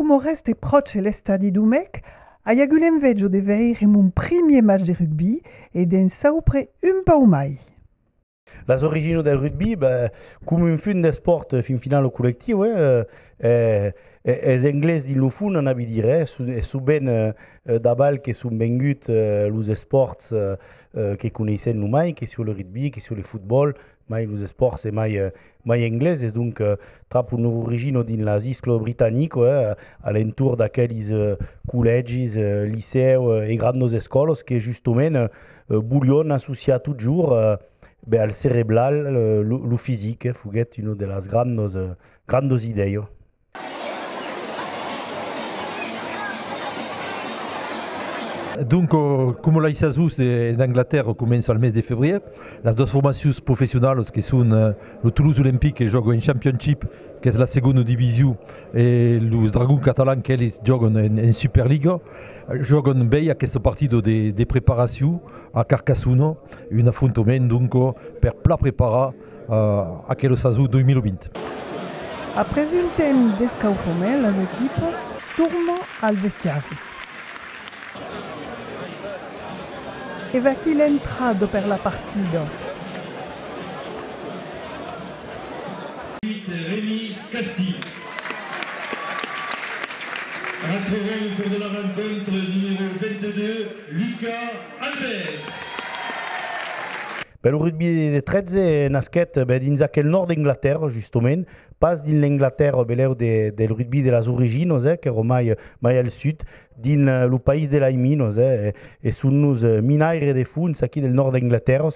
Coma reste pròche l'estadi d'Umèc, ai agut l'enveja de veire mon primièr match de rugbi e d'en saupre un pauc mai. Las originas del rugbi, ben, coma un fum d'espòrt fin finau collectiu, es Englés dins lo fum, anava dire, e sovent dabal que son venguts los espòrts que coneissèm lo mai, que sió le rugby, que sió le fotbòl, mai los espòrts e mai mai engleses, donc tra pus nos origino dins las isclos britanico, eh, a l'entorn d'aquelis collègis, licèu e grandos escòlos que justement volion associar totjorn ben al cereblal lo fisic, foguèt una de las grandos grandos idèi. Donc, coma las sasons d'Anglatèrra començan al mes de febrièr, las doas formacions professionalas que son lo Toulouse Olympic que jòga en Championship, qu'es la segonda division, e los Dragons Catalans qu'eles jògan en Superliga, jògan bèi aquesta partida de preparacion a Carcassona, un afrontament donc per plan preparar aquela sason 2020. Après un temps d'escaufament, las equipas tornan al vestiari. E vaquí l'entrada per la partida. Remi Casti retrèvèt lo còr de la rencontre, numèro 22, Lucas Albert. Per lo rugbi de 13 nasquèt ben dins aquel nòrd d'Anglatèrra, justomènt, pas dins l'Anglatèrra belèu del rugbi de las originas, eh, qu'èra mai mai al sud, dins lo país de lai minas, eh, e son nos minaires de fons aquí del nòrd d'Anglatèrra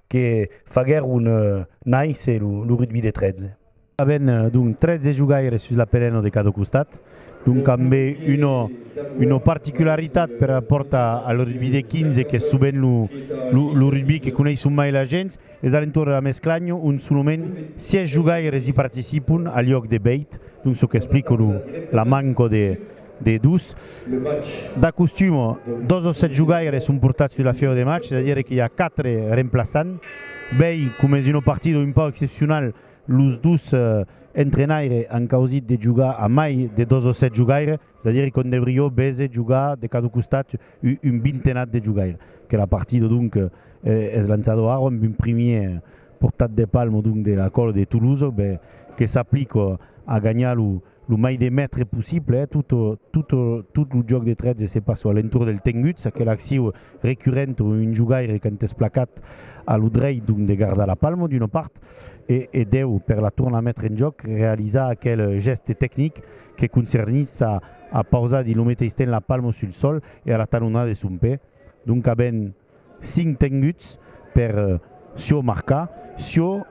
que faguèron nàisser lo rugbi de 13. Aven donc 13 jogaires sus l'apereno de cada costat, donc ambe una particularitat per rapòrt al rugbi de 15 qu'es sovent lo rugbi que coneisson mai la gents, es a l'entorn de la mesclanha ont solament 6 jogaires i participon al luòc de 8, donc çò qu'explica la manca de dos. D'acostum, dos o 7 jogaires son portats sus la fièu de match, es a dire que i a 4 remplaçants, bèi comes una partida un pauc excepcional, Los dos entrenaire an causit de jogar a mai de 2 o 7 jogaire, es a dire qu'on deurió béser jogar de cada costat un vintenat de jogaire. Que la partida donc es lançado ara amb un primier portat de palmo donc de la còla de Toulouse que s'aplico a ganhar lo. lo mai de mètre possible eh tot tot tot lo jòc de 13 se passa a l'entorn del tengut ça que l'acciu recurrent o un jogaire quand es placat a lo drech donc de gardar la palma d'una part e e deu per la tornar metre en jòc realizar aquel gèste tecnic que concernís a a pausar dins lo meteis temps la palma sul sòl e a la talonada de son pè donc a ben Cinc tenguts per çò marcar, çò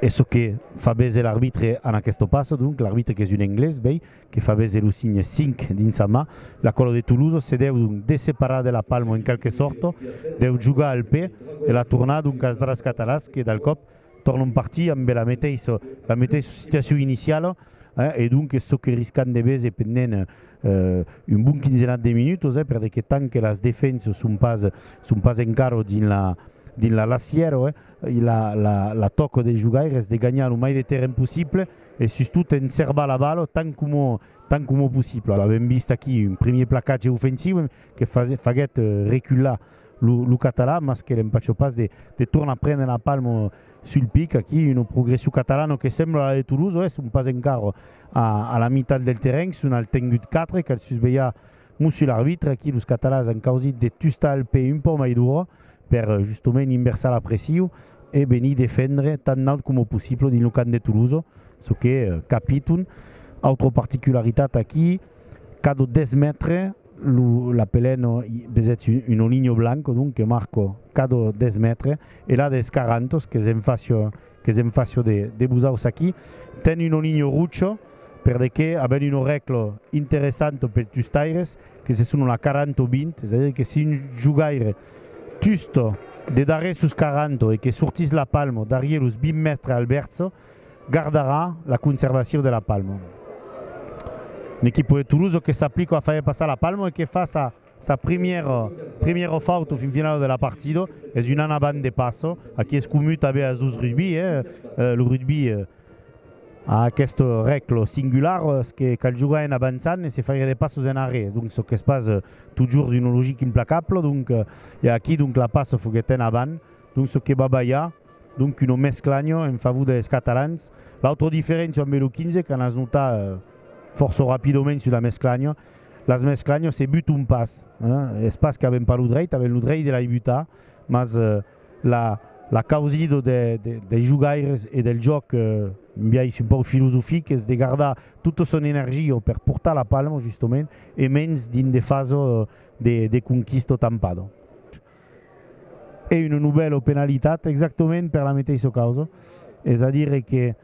es çò que fa bese l'arbitre en aqueste passo, donc l'arbitre qu'es un englés, bèi, que fa bese lo signe cinc dins sa man, l'aquòlo de Toulouse se deu donc desseparar de la palmo en quelque sòrta, deu jogar al pè e la tornar donc als drascatalasc e d'alcòp, Tòrnon partir ambe la meteissa, la meteissa situacion iniciala, eh, e donques çò que riscan de véser pendent un bon quinzenat de minutos, eh, per de que tant que las defensas son pas, son pas encara dins la, dins la lassièra, eh, la, la, la tòca dels jogaires de ganhar lo mai de terren possible e sustot enserbar la bala tant coma, tant coma possible. Avèm vist aquí un premier placatge ofensiu que faguèt recular lo catalan, mas que l'empacho pas de de tornar prene la palmo sul pic aquí, una progression catalana que sembla la de Toulouse, oe son pas encara a a la mitat del terrenh, son al tengut 4, cal susvelhar Monsieur l'arbitre, aquí los catalans an causit de tustar el pè un pauc mai dura per justement inversar la pression e venir defendre tan naut coma possible dins lo camp de Toulouse, çò que capiton, autra particularitat aquí, cadò 10 mètres, Lo lapeleno vesetz un oligno blanco donc que marco cado des mètres e la des carantos que se'n facio que se'n facio de de busaus aquí ten un oligno rucho per de que aben un orèclo interessanto pel tustaires que se sono la caranto vint es a dire que si un jogaire tusto de darrè sos caranto e que sortís la palmo darrier los vint mètres al verso gardarà la conservacion de la palma. Ne qui poder Toloso que s'aplico a faire passar la palma e que faça sa primièra primièra fauto fin finala de la partida es un ana band de passa aquí es comu tanben as dos rugbi eh lo rugbi a aquesta rècla singulara es que cal jogar en avançant e se faire de passos en arrèr donc çò qu'es pas totjorn una logica implacabla donc e aquí donc la passa foguèt en avant donc çò que va balhar Donc un omesclanho en favor des catalans. L'autre diferencio ambe lo 15 qu'an as notar fòrça rapidament sul amesclanho, l'asmesclanho se buton pas, es pas qu'aven pas lo dreit, aven lo dreit de lai butar, mas la la causido de dei jogaires e del jòc un biais un pauc filosofic es de gardar tota son energio per portar la palma justement e mens dins de faso de de conquista o tampado. e una novèla penalitat exactament per la meteissa causa, es a dire que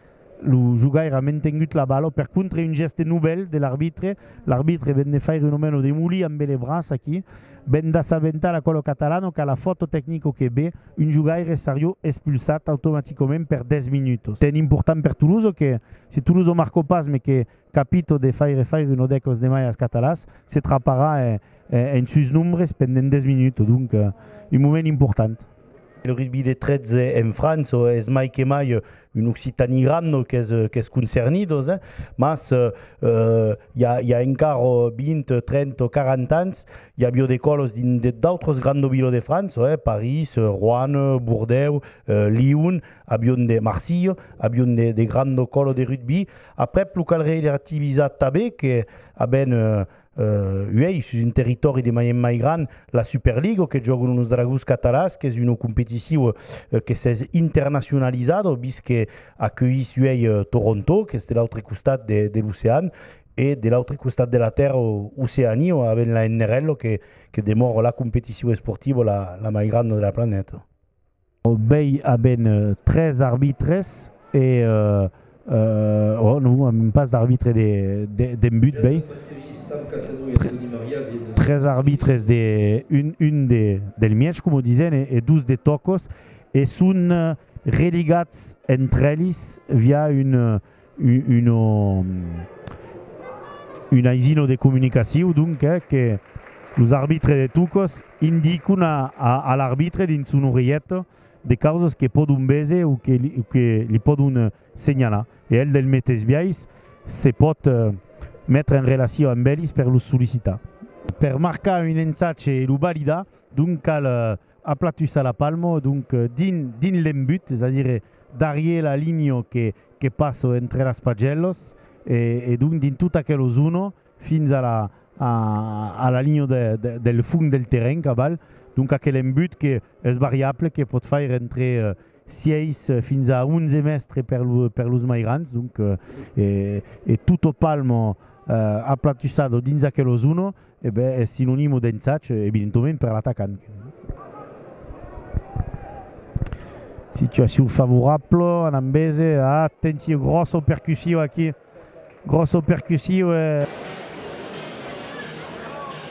lo jogaire a mentengut la bala per contra un gèste novèl de l'arbitre, l'arbitre ven de faire una mena de molí ambe le braç aquí, ven d'assabentar la cola catalana qu'a la fòto tecnico que be un jogaire serió expulsat automaticament per 10 minutos. Ten important per Toulouse que si Toulouse o marco pas me que capito de faire faire un odèc os demaias catalans, se traparà en sus nombres pendent 10 minuts, donc un moment important. El rugbi de 13 en França es mai que mai un Occitanie grande qu'es concernidos, mas i a encara 20, 30 o 40 ans i avió de còlos dins d'autres grandes vilas de França, París, Roanne, Bordèu, Lion, avion de Marsilha, avion de grandes còlos de rugbi. Aprèp lo calrei de rativisar tabé que aben uèi sus un territòri de mai en mai gran la Superligo que jògon los Dragons Catalans qu'es una competiciu que s'es internacionalizado vist que acueís uèi Toronto qu'es de l'autre costat de l'ocean e de l'autre costat de la tèrra Oceania o aben la NRL que demòra la competiciu esportiva la mai granda de la planeta. Obei a ben tres arbitres e oh non a un pas d'arbitre de de but bèi tres arbitres de un un de del mièch coma disen e dos de tòcos e son religats entre elis via un Un aisino de comunicaciu, donc, que los arbitres de tocos indicon a l'arbitre dins son oreilhet de causas que pòdon véser o que li pòdon senhalar e el del meteis biais se pòt metre en relacion amb elis per los sollicitar. Per marcar un ensatge e lo validar, donc, cal Aplatusar la palmo, donc din din l'embut, es a dire darrier la linho que que passo entre las pagellos e e donc din tot aquelo zono fins a la a a la linho de del fung del terren caval, donc aquel embut que es variable que pòt faire entre 6 fins a 11 mèstre per lo per los mai grans, donc e e tutto palmo aplatusado dins aquelo zono. E ben, es sinonimo d'ensatge, evidentoment, per l'atacant. Situacion favorabla, Anam bese, atencion, gròssa percussiu aquí, gròssa percussiu e.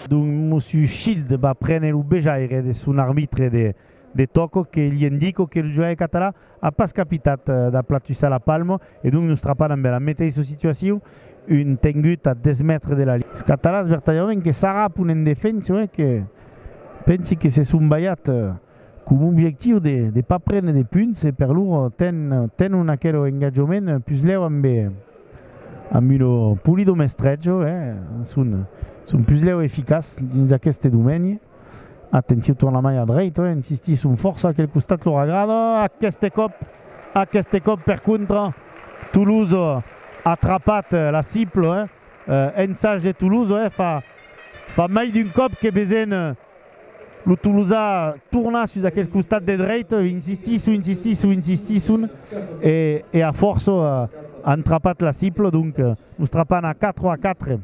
Dont Monsieur Schild va prene lo bejaire de son arbitre de. De tòco que li endico que lo joaire catalan a pas capitat d'aplatussar la palma e donc nos trapan ambe la meteissa situacion, un tengut a 10 mètres de la linha. Es catalans vertadièrament que s'arrapon en defensa e que pensi que se son balhat coma objectiu de pas prene de punts e per lor tenon aquel engatjament puslèu ambe lo Polido Mestrejo e son puslèu eficaç dins aqueste domeni. Atenciu tornamai a dreit, oi, insistisson fòrça aquel costat lor agrada, aqueste còp, aqueste còp per contra Toulouse a atrapat la cible, oi, ensag de Toulouse, oi, fa fa mai d'un còp que vesen lo Tolosa tornar sus aquel costat de dreit, oi, insistisson, insistisson, insistisson e e a fòrça an trapat la cible, donc lo strapan a 4 a 4.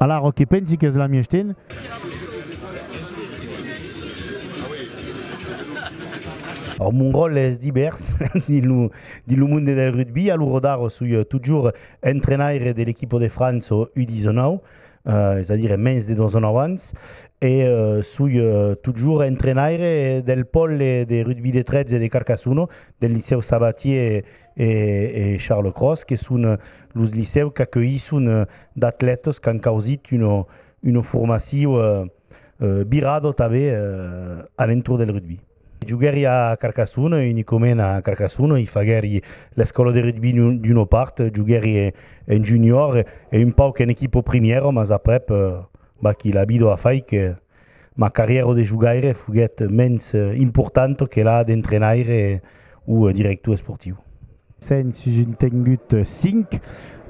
Alara, que pensi qu'es la mièstin? Ò, mon ròl es divèrs dins lo monde del rugbi. A lo Rodaro soi totjorn entrenaire de l'equipo de França ò U19, es a dire mens de dos ans abans, e soi totjorn entrenaire del pòle de rugbi de 13 de Carcassona, del Licèu Sabatier. e Charles Cros, que son los licèus qu'acueisson d'atlètas qu'an causit una formacion virada tanben a l'entorn del rugbi. Joguèri a Carcassona, unicament a Carcassona, i faguèri l'escòla de rugbi d'una part, joguèri en junior e un pauc en equipa primièra, mas aprèp, vaquí, la vida a fait que. Ma carrièra de jogaire foguèt mens importanta que la d'entrenaire o director esportiu. Sèn sus un tengut 5,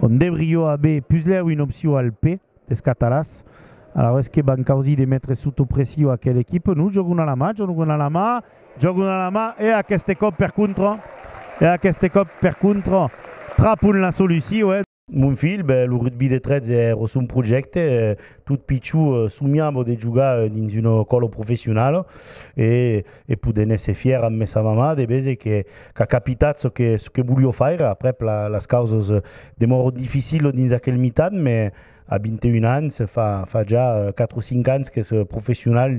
ont deurió aver puslèu una opcion al P des Catalàs. Alavetz que van causir de metre sota pression aquela equipa. Non, jògan a la mà, jògan a la mà, jògan a la mà e aqueste còp per contra, e aqueste còp per contra trapon la solucion. Mon filh, ben, lo rugbi de 13 è ro son projècte. Tot pichó somiava de jogar dins una còla professionala e e poder n'èsser fièr amb messa mamà de veser qu'a capitat çò que çò que volió faire. Aprèp, las causas demòron dificilas dins aquel mitan, mès a 21 ans, fa fa ja 4 o 5 ans qu'es professional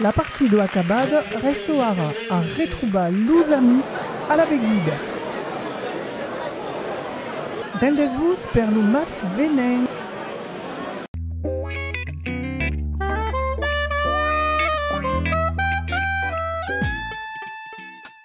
La partidò acabada, rèsto ara a retrobar los ami a la beguda. Rendètz-vos per lo match venent!